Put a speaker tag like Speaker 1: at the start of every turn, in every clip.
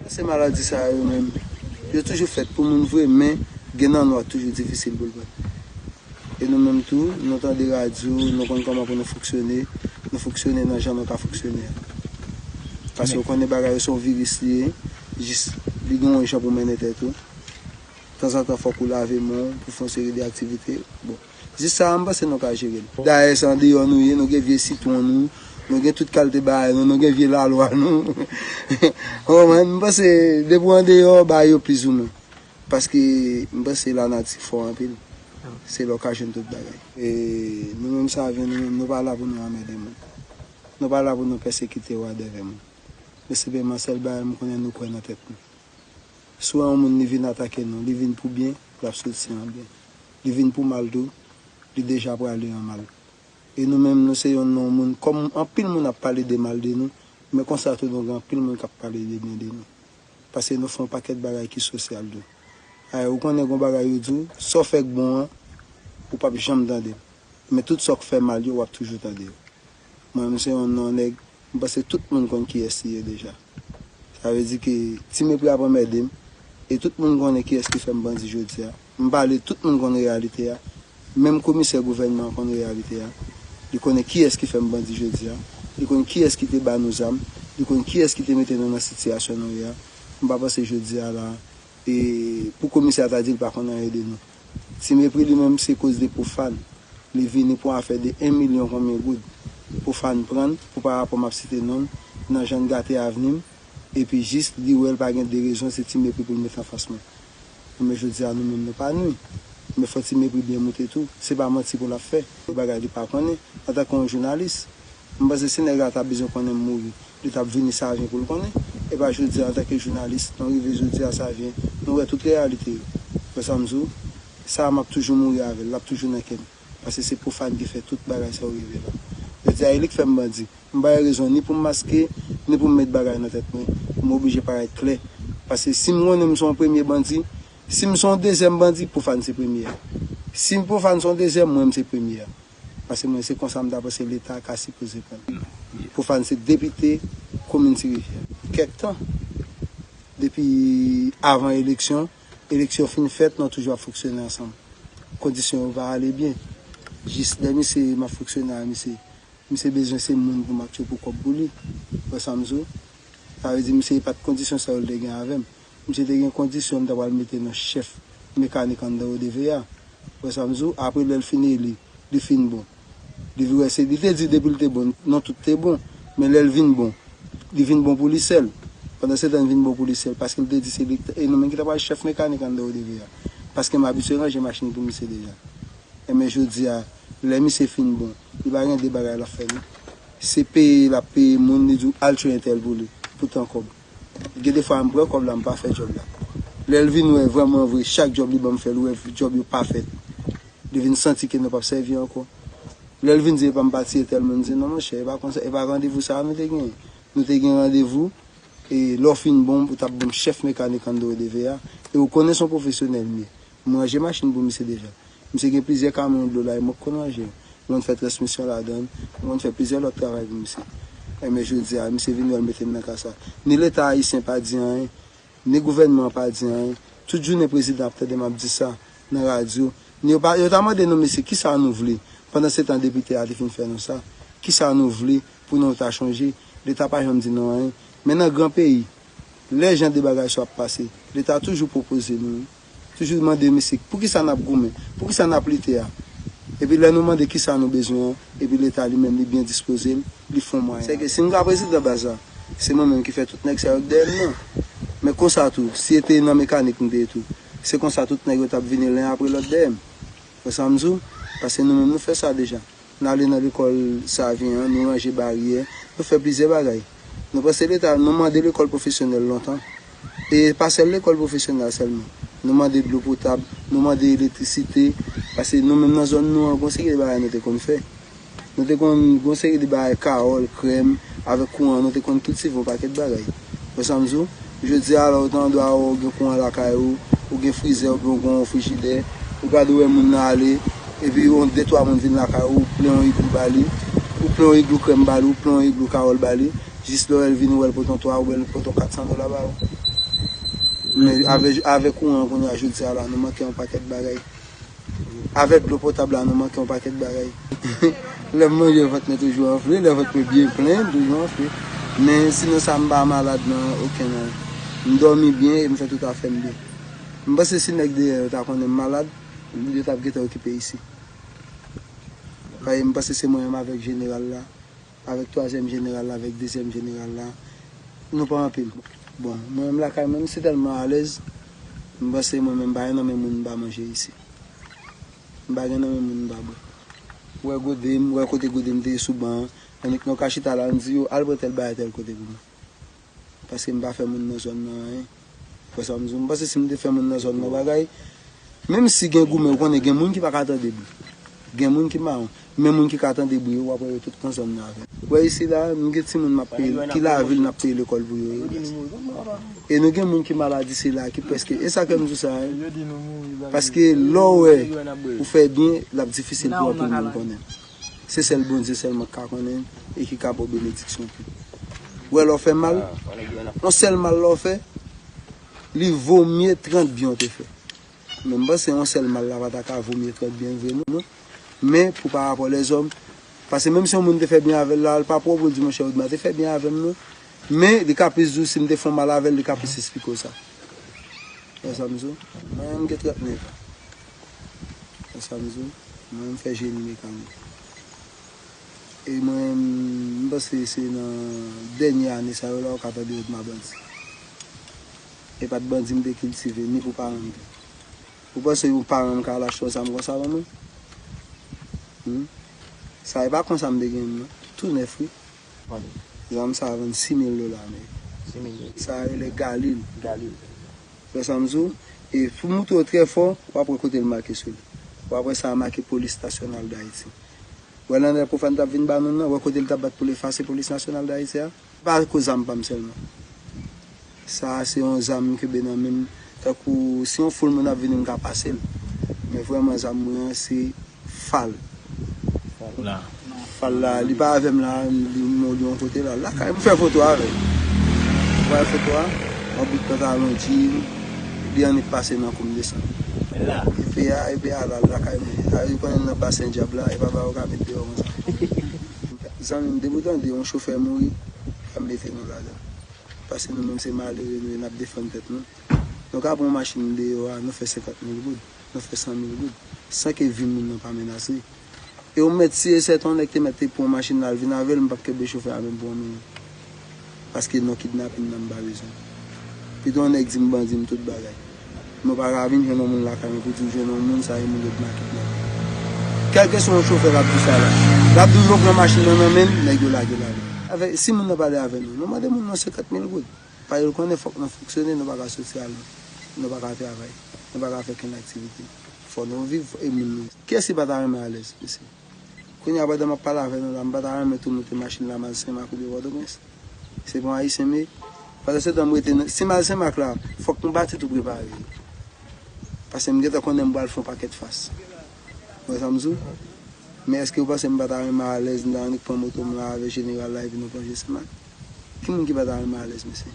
Speaker 1: Kansè maladi sa yo menm, yo toujou fèt pou moun vre men gen nan nou a toujou difisil pou l bat. E nou menm tou, nou tande radyo, nou konn kòman pou nou fonksyone, nou fonksyone nan jan nou ka fonksyone a. Pase ou konnen bagay yo se yon viris li ye, jis li gen yon jan pou mennen tèt ou. Tanzantan fòk ou lave men w pou w fè yon seri de aktivite, bon. Jis sa a m panse nou ka jere l. Dayè se andeyò nou ye, nou gen vye sitwon nou, nou gen tout kalte bagay nou, nou gen vye lalwa nou. Ou konprann? M panse depi w andeyò bagay yo plizoumwen. Paske m panse lanati fò anpil. Se la w ka jwenn tout bagay. E nou menm save nou menm, nou pa la pou nou anmède moun. Nou pa la pou nou pèsekite wadèvè moun. Men senpleman sèl bagay m konnen nou kwè nan tèt nou. Si w wè yon moun li vin atake nou, li vin pou byen, l ap soti an byen. li vin pou mal tou, li deja prale an mal. E nou menm nou se yon non moun kòm anpil moun ap pale de mal de nou, men konsa tou nou gen anpil moun kap pale de byen de nou. Pase nou fè yon pakèt bagay ki sosyal tou. Ayè ou konnen gon bagay yo di w, sa w fè k bon an, ou pap janm tande l. Men tout sa w k fè mal yo wap toujou tande yo. Mwen menm se yon non nèg, m panse tout moun konn kiyès li ye deja. Sa vle di ke Ti Mepri ap anmède m, e tout moun konnen kiyès ki fè m bandi jodi a. M pale, tout moun konn reyalite a. Menm komisè gouvènman an konn reyalite a. Li konnen kiyès ki fè m bandi jodi a. Li konn kiyès ki te ba nou zam. Li konn kiyès ki te mete nou nan sitiyasyon nou ye a. M pa panse jodi a la a, e pou komisè a ta di l pa konn anyen de nou. Ti mepri li menm se koz de pofan li vini pou afè de 1 milyon konbyen goud pofan prann pou pa rapò map site nonl nan jann gate avnim epi jis li wèl pa gen 2 rezon se ti mepri poul met anfas mwen enben jodia nou menm nou pa nwi men fò ti mepri byen moute tou se pa manti poul ap fè yon bagay li pa konnen antanke yon jounalis M panse si nèg la ta bezwen konnen m mouri, li t ap vini Savyen pou l konnen, e pa jodi a antanke jounalis, nou rive jodi a Savyen, nou wè tout reyalite yo. Ou wè sa m di w? Sa a m ap toujou mouri avè l, l ap toujou nan kè m, paske se Profane ki fè tout bagay sa yo rive la. Jodi a e li k fè m bandi. M pa gen rezon ni pou m maske, ni pou m met bagay nan tèt mwen, m oblije parèt klè, paske si m konnen m se yon premye bandi, si m se yon dezyèm bandi, Profane se premye a. Si Profane se yon dezyèm, mwen m se premye a. Pase mwen se konsa m ta panse leta ka sipoze pran. Profane se depite komin ti rivyè. Pou kèk tan. Depi avan eleksyon, eleksyon fin fèt nou toujou ap fonksyone ansanm. Kondisyon yo pa ale byen. Jis lè misye map fonksyone a misye. Misye bezwen se moun pou map tchopou kòb pou li. Ou wè sam di w? Sa vle di misye e pat kondisyon sa yo l te gen avèm. Misye te gen kondisyon li ta pral mete nan chèf mekanik anndan ODV a. Ou wè sa m di w? Apre lè l fin eli, li fin bon. Li vin wè se, li te di depi l te bon, non tout te bon. Men lè l vin bon, li vin bon pou li sèl. Pandansetan li vin bon pou li sèl paske li te di se li, e nou menm ki ta pral chèf mekanik anndan ODV a. Paske m abitye ranje machin pou misye deja. Enben jodi a, lè misye fin bon, li pa gen de bagay l ap fè non. Se peye l ap peye moun, li di w al tchwe entèl pou li, pou tan kòb. Gen de fwa m pran kòb la m pa fè djòb la. Lè l vin wè vrèman vre chak djòb li ban m fè l wè djòb yo pa fèt. Li vin santi ke nou p ap sèvi ankò. Lè l vin di epa m pa tiye tèl moun m di non monchè e pa konsa e pa randevou sa a nou te genyen. Nou te gen randevou e lè w fin bon ou t ap ban m chèf mekanik an do e de ve a e ou konnen s on pwofesyonèl m ye. M ranje machin pou misye deja. Misye gen plizyè kamyon dlo la e mwen k konn ranje yo. M konn fè transmisyon ladan l. M konn fè plizyè lòt travay pou misye. Enben jodi a, misye vin wè l mete m nan ka sa. Ni Leta ayisyen pa di anyen, ni gouvènman an pa di anyen. Tout jounen prezidan ap tande m ap di sa nan radyo. Ni yo pa, yo ta mande nou mesye ki sa nou vle? Pandan se tan depite a te fin fè nou sa. Ki sa nou vle pou nou ta chanje? Leta pa janm di nou anyen. Men nan gran peyi, lè jan de bagay sa yo ap pase, Leta toujou pwopoze nou toujou mande misik poukisa n ap goumen, poukisa n ap lite a? Epi lè nou mande kisa nou bezwen an, epi leta li menm li byen dispoze l, li fon mwayen. Sèke si m ka prezidan baz la, se mwen menm ki fè tout nèg sa yo k dèyè m nan. Men konsa tou, si e te nan mekanik m te ye tou, se konsa tout nèg yo t ap vini len apre lòt dèyè m. Wè sa m di w? Pase nou menm nou fè sa deja. N ale nan lekòl Savyen an, nou ranje baryè, nou fè plizyè bagay. Nou panse leta, nou mande lekòl pwofesyonèl lontan. E pa sèl lekòl pwofesyonèl la sèlman. Nou mande dlo potab, nou mande elektrisite, pase nou menm nan zòn nou an gon seri de bagay nou te konn fè. Nou te konn gon seri de bagay kawòl, krèm, avèk kouran nou te konn kiltive yon pakèt bagay. Wè sa m di w? Jodi a la ou ta dwe ou gen kouran lakay ou, ou gen frizè oubyen ou gen yon frijidè, ou gade ou wè moun nan ale, epi yon de twa moun vin lakay ou, ou plen yon iglou ba li, ou plen yon iglou krèm ba li, ou plen yon iglou kawòl ba li, jis lè ou wè l vini ou wè l pote yon 3 oubyen l pote yon 400 dola ba ou. Men avè kouran an kounye a jodi a la nou manke yon pakèt bagay. Avèk dlo potab la nou manke yon pakèt bagay. Lè m manje vant mwen toujou anfle, lè vant mwen byen plen m toujou anfle. Men sinon sa m pa malad nan oken nan yo. M dòmi byen e m fè tout afè m byen. M panse si nèg deyò yo ta konnen m malad, yo t ap gentan okipe isi. Paske m panse se mwen menm avèk jeneral la. Avèk twazyèm jeneral la avèk dezyèm jeneral la nou pa anpil bon mwen menm lakay mwen m se tèlman alèz m panse mwen menm m pa gen nan men moun m pa manje isi m pa gen nan men moun m pa bwè ou wè gode m ou wè kote gode m te ye sou ban an annik nou ka chita la n di yo al pran tèl bagay tèl kote pou mwen. paske m pa fè moun nan zòn nan anyen. Ou kwè sa m di w? M panse si m te fè moun nan zòn nan bagay, menm si gen goumen, ou konnen gen moun ki pa ka tande bri. Gen moun ki mawon. Men moun ki ka tande bri yo, w ap wè yo tout nan zòn nan avè m. Ou wè isi la, nou gen timoun m ap peye, ki lavil n ap peye lekòl pou yo yo. E nou gen moun ki maladi sila a, ki prèske. E sa k fè m di w sa a? Paske lè w wè ou fè byen, l ap difisil pou anpil moun konnen. Se sèl Bondye sèlman ki ka konnen e ki ka ba w benediksyon tou. Ou wè lè w fè mal, yon sèl mal lè w fè, li vo mye 30 byen w te fè. Men m panse yon sèl mal la pa ta ka vo mye 30 byen vre non. Men pou pa rapò lèzòm, pase menm si yon moun te fè byen avè l la, l pa pwòp pou l di monchè Odma te fè byen avè m non. Men li ka plis di w si m te fè yon mal avè l, li ka plis esplike w sa. Ou wè sa m di w? Mwen m gen 39 an. Wè sa m di w? Mwen menm m fè jeni mekanik. E mwen m panse se nan dènye ane sa yo la ou ka tande yo di m a bandi. E pa t bandi m te kiltive ni pou paran m tou. Ou panse yon paran m ka al achte yon zam konsa ban mwen? Hum! Sa e pa konsa m te gen l non. Tou nèf wi. Zam sa a vann 6000 dola ameriken. Sa a rele Galil. Wè sa m di w? E pou m moutre w trè fò, w ap wè kote l make sou li. W ap wè sa a make Polis Nasyonal Dayiti. Wè nan lè Profane t ap vin ba nou l nan, wè kote l t ap bat pou l efase Polis Nasyonal Dayiti a? Se pa akoz zam pa m sèlman. Sa a se yon zam m kenbe nan men m tankou si yon foul moun ap vini m ka pase l. Men vrèman zam mwen an se Fal. La. Fal la li pa avèm la nou gen yon kote la lakay mwen fè foto avèl mwen bay foto a mwen bout pant a mwen jean li annik pase nan koum desann la epi a epi a lal lakay mwen a li konnen nan basen dyab la epa bagay ou ka met deyò konsa zanmim depi ou tande yon chofè mouri pa mete nou ladann paske nou menm se malere nou ye nap defann tèt nou nou ka pran yon machin deyò a nou fè 50 mil goud. Nan fè sa nou vle, san ke vi moun nan pa menase. E yon mèt si e sè ton nèg te mèt te pran machin la al vin avèl m pap kenbe chofè a menm pou yon minit. Paske non kidnapin nan m pa bezwen. Pito yon nèg di m bandi m tout bagay. Men w pa ka vin jwenn yon moun lakay mwen pou di w jwenn yon moun sa e moun yo dma kidnape l. Kèlkeswa yon chofè kap di w sa la, lap di w yo pran machin nan nan men l, nèg yo lage l ale. Avè, si moun nan pale avè nou, nou mande moun nan 50 mil goud. Paske l konnen fòk nan fonksyone, nou pa ka soti ale, nou pa ka travay, nou pa ka fè okenn aktivite. Fò nou viv e moun nou. Kiyès ki pa ta renmen alèz, mesye? Kounye a pandan m ap pale avè nou la, m pa ta renmen tou moute machin la m'al Senmak oubyen Pòtoprens? Se pa yon Ayisyen m ye? Pandansetan m rete nan, si m'al Senmak la, fòk m pati tou prepare yo. Paske m gentan konnen m pral fè yon pakèt fas. Ou wè sa m di ou? Men èske ou panse m pa ta renmen alèz, m ta annik pran moto m la avè jeneral la epi nou plonje Senmak? Ki moun ki pa ta renmen alèz mesye?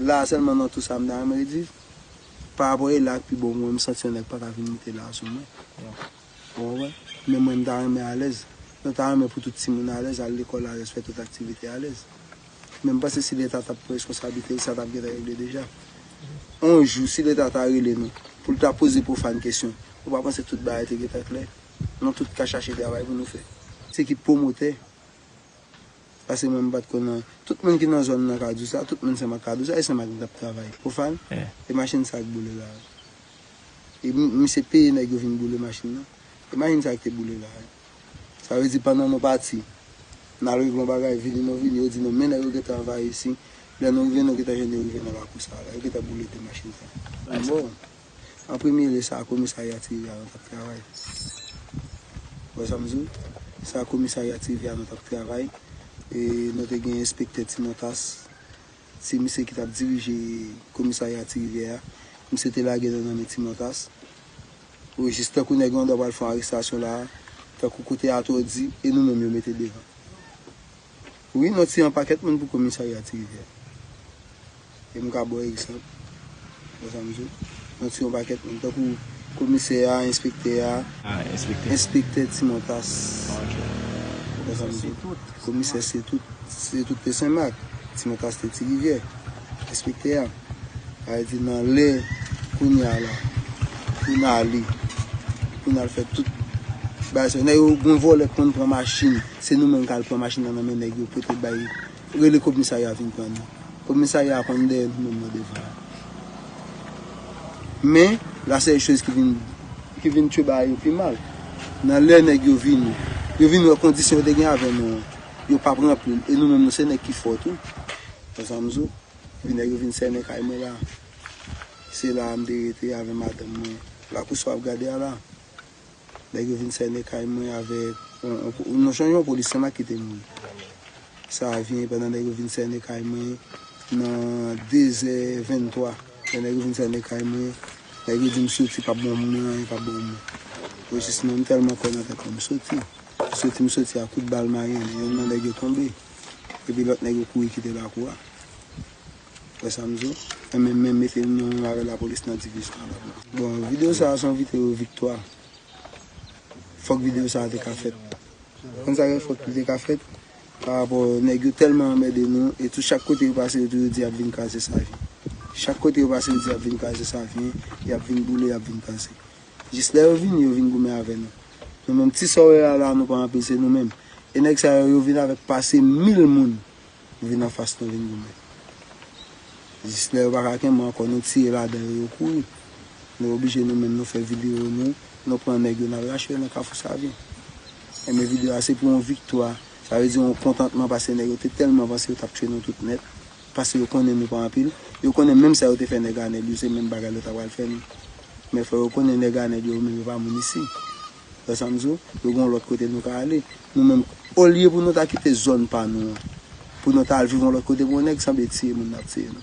Speaker 1: La a sèlman nan tou sa m ta renmen ret viv. Pa rapò e la ak pi ba w mwen m santi yon nèg pa ka vin mete la a sou mwen. Ou konprann? Men mwen m ta renmen alèz. Mwen ta renmen pou tout timoun alèz, al lekòl alèz, fè tout aktivite alèz. Men m panse si leta ta pran reskonsablite l sa ta p gentan regle deja. On jou si leta ta rele nou pou l ta poze Profane kesyon, ou pa panse tout bagay te gentan klè? Nou tout ka chache travay pou nou fè. Se ki pwomotè? Pase mwen mpat konn an. Tout moun ki nan zòn nan kadou sa, tout moun sèm ak kadou sa, e sèm ak li tap travay. Profan, e machin sa k boule la a? E misye peye nèg yo vin boule machin nan? E machin sa k te boule la a? Sa vle di pandan nou pati, nal regle yon bagay, vini nou vini, yo di nou men nèg yo gentan anvayi isin, lè nou rive nou gentan jwenn yo rive nan lakou sa a la, yo gentan boule 2 machin sa yo. Bon! An premye lye sa komisarya Tirivya nou tap travay. Ou wè sa m di w? Sa komisarya Tirivya nou tap travay. E nou te gen enspektè Timontas. Se misye ki tap dirije komisarya Tirivyè a. Misye te lage nou nan men Timontas. O jis tankou nèg lan dwa pral fè yon arestasyon la a. Tankou kote atò di e nou menm yo mete devan. Wi mwen tiye yon pakèt moun pou komisarya ti rivyè e m ka baw egzanp wè sa m di w mwen tiye yon pakèt moun tankou komisè a enspektè a enspektè ti montas wè sa m di w komisè se tout se tout te senmak ti montas te ti rivyè. Enspektè a al di nan lè kounya la pou n ale, pou n al fè tout bagay sa yo. Nèg yo, gen vòlè k konn pran machin, se nou menm k al pran machin nan nan men nèg yo pote bay, rele kobmisarya vin pran nou. Kobmisarya a konn dèyè nou menm nan devan an. Men, la sèl choz ki vin, ki vin tjou bagay yo pi mal, nan lè nèg yo vini, yo vin wè kondisyon yo te gen avè nou an, yo p ap ranpli l e nou menm nou se nèg ki fò tou. Bon sa m di w, epi nèg yo vin sènen kay mwen la. Se la a m te rete avè madanm mwen. Lakou sa w ap gade a la, nèg yo vin sènen kay mwen avèk yon jan yon polisye m ak ki te mouri. Sa a vini pandan nèg yo vin sènen kay mwen nan dezè venntwa. Lè nèg yo vin sènen kay mwen, nèg yo di m soti pa ban moun anyen, pa ban moun. Rejis mwen, m tèlman kwè nan tèt mwen, m soti. M soti, m soti a kout bal marin, youn nan nèg yo tonbe. Epi lòt nèg yo kouri kite lakou a. Wè sa m di w? Yo menm menm mete nou menm avè lapolis nan divizyon an la. Bon, videyo sa a se yon videyo viktwa. Fòk videyo sa a te ka fèt. Ou konn sa ki fè fòk li te ka fèt? Parapò nèg yo tèlman anmède nou e tou chak kote yo pase yo toujou di y ap vin kraze Savyen. Chak kote yo pase yo di y ap vin kraze Savyen, y ap vin boule, y ap vin kraze. Jis lè yo vini yo vin goumen avè nou. Nou menm ti sa w wè a la nou pa anpil se nou menm. E nèg sa yo yo vin avèk pase mil moun pou vin anfas nou vin goumen. Jis lè yo pa ka kenbe ankò nou tire ladan yo yo kouri. Nou oblije nou menm nou fè videyo nou, nou pran nèg yo n al rache yo nan kafou savyen. Enben videyo a se pou yon viktwa, sa vle di yon kontantman pase nèg yo te tèlman vanse yo t ap tchwe nou tout nèt. Paske yo konnen nou pa anpil. Yo konnen menm sa yo te fè nèg Anèl yo se menm bagay yo ta pral fè nou. Men fò yo konnen nèg Anèl yo menm yo pa moun isi. Ou wè sa m di w? Yo gen yon lòt kote nou ka ale. Nou menm, olye pou nou ta kite zòn pa nou an, pou nou ta al viv yon lòt kote pou yon nèg sanble tiye moun n ap tiye nou.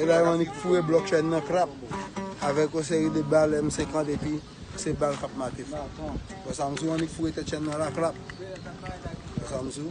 Speaker 2: Elay
Speaker 1: Manik foure blòk chèn nan krap avèk yon seri de bal M 50 epi se bal k ap mate fò. Wè sa m di w Annik foure tèt chèn nan la krap. Wè sa m di
Speaker 3: w.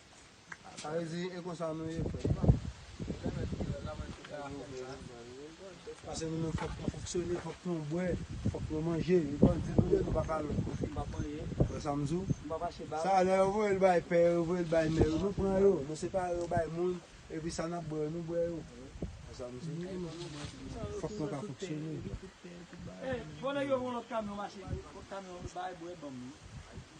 Speaker 1: Sa vle di e konsa nou ye frè pam. Pase nou menm fòk nou fonksyone, fòk nou bwè, fòk nou manje, e bandi nou ye nou pa ka lwen kofi. Ou wè sa m di w? Sa a lè yo voye l bay pè yo, yo voye l bay mè yo, nou pran yo, nou separe yo bay moun, epi sa n ap bwè yo nou bwè yo. Wè sa m di w? Fòk nou ka fonksyone.